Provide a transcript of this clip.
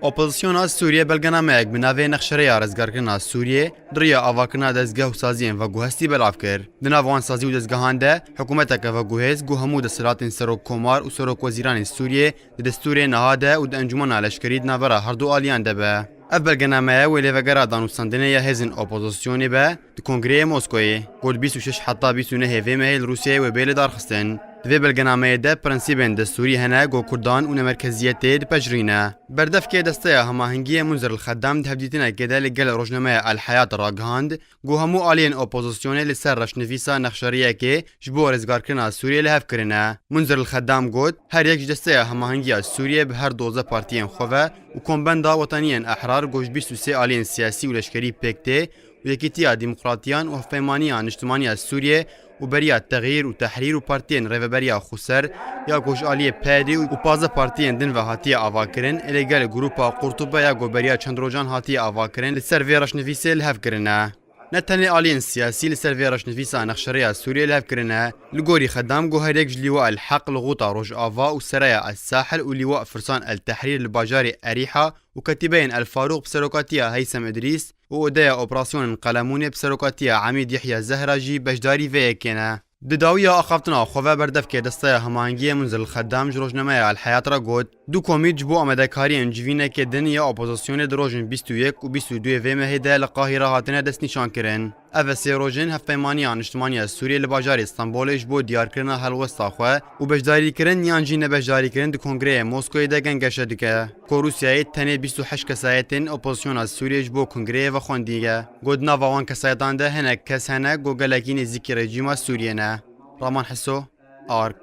Opozisyona Sûriyê belgenameyek bi navê Nexşereya Rizgarkirina Sûriyê di riya avakirina dezgeh û saziyên veguhestî belav kir. Di nav wan sazî û dezgehan de hikûmeteke veguhêz ku hemû desthilatên Serokkomar û Serokwezîranên Sûriyê di destûrê niha de û di encûmena leşkerî di navbera herdu aliyan de be. Ev belgenameye wê lê vegera danûstandinê ya hêzên opozisyonê be Di Kongreyê Moskoyê ku li bîst û şeş heta bîst û nehê vê mehê li Rûsyayê wê bê lidarxistin, di vê belgenameyê de prensîbên destûrî hene ku kurdan û nemerkeziyetê dipejirîne. Berdevkê Desteya Hemahengiyê Munzer El-Xeddam di hevdîtinekê de li gel rojnameya El-Hayat ragihand ku hemû aliyên opozisyonê li ser reşnivîsa nexşeriyekê ji bo rêzgarkirina Sûriyê li hev kirine. Munzer El-Xeddam got, Her yek ji Desteya Hemahengiya Sûriyê bi her doze partiyên xwe ve û Kombenda Wetaniyên Ehrar ku ji bîst û sê aliyên siyasî û leşkerî pêk tê Yekîtiya Demokratiyan û Hevpeymaniya Niştimaniya Sûriyê û beriya Texyîr û Tehrîr û partiyên Rêveberiya Xweser ya Koçaliyê PYD û pazdeh partiyên din ve hatiye avakirin ê lê gelê grûpa Qurtube ya ku beriya çend rojan hatiye avakirin li ser vê reşnivîsê li hev kirine. Ne tenê aliyên siyasî li ser vê reşnivîsa nexşerêya Sûriyê li hev kirine. Li gorî Xedam ku herêk ji Lîwa El Heq li Xuta Rojava û Seraya El Sahil û Lîwa Firsan El Tehrîr li bajarê Erîha û ketîbeyên El Farûq bi serokatiya Heysem Îdrîs, û odeya operasyonên Qelemunê bi serokatiya Emîd Yehya Zehra jî beşdarî vê yekê ne. Di dawiya axaftina xwe ve berdevkê Desteya Hemahengiyê Munzil Xedam ji rojnameya El Heyat re got, Du komît ji bo amadekariyên civînekê din ya opozasyonê di rojên bîst û yek û bîst û duê vê mehê de li Qahîre hatine destnîşankirin. Ev sê rojên Hevpeymaniya Niştimaniya Sûriyê li bajarê Stenbolê ji bo diyarkirina helwesta xwe û beşdarîkirin yan jî nebeşdarîkirin di kongreyê Moskoyê de gengeşe dike. Ku Rûsyayê tenê bîst û heşt kesayetên opozisyona Sûriyê ji bo kongreyê ve xwendîge. Got di nava wan kesayetan de hinek kes hene ku gelekî nêzîkî rejîma Sûriyê ne. Raman Hiso, ark.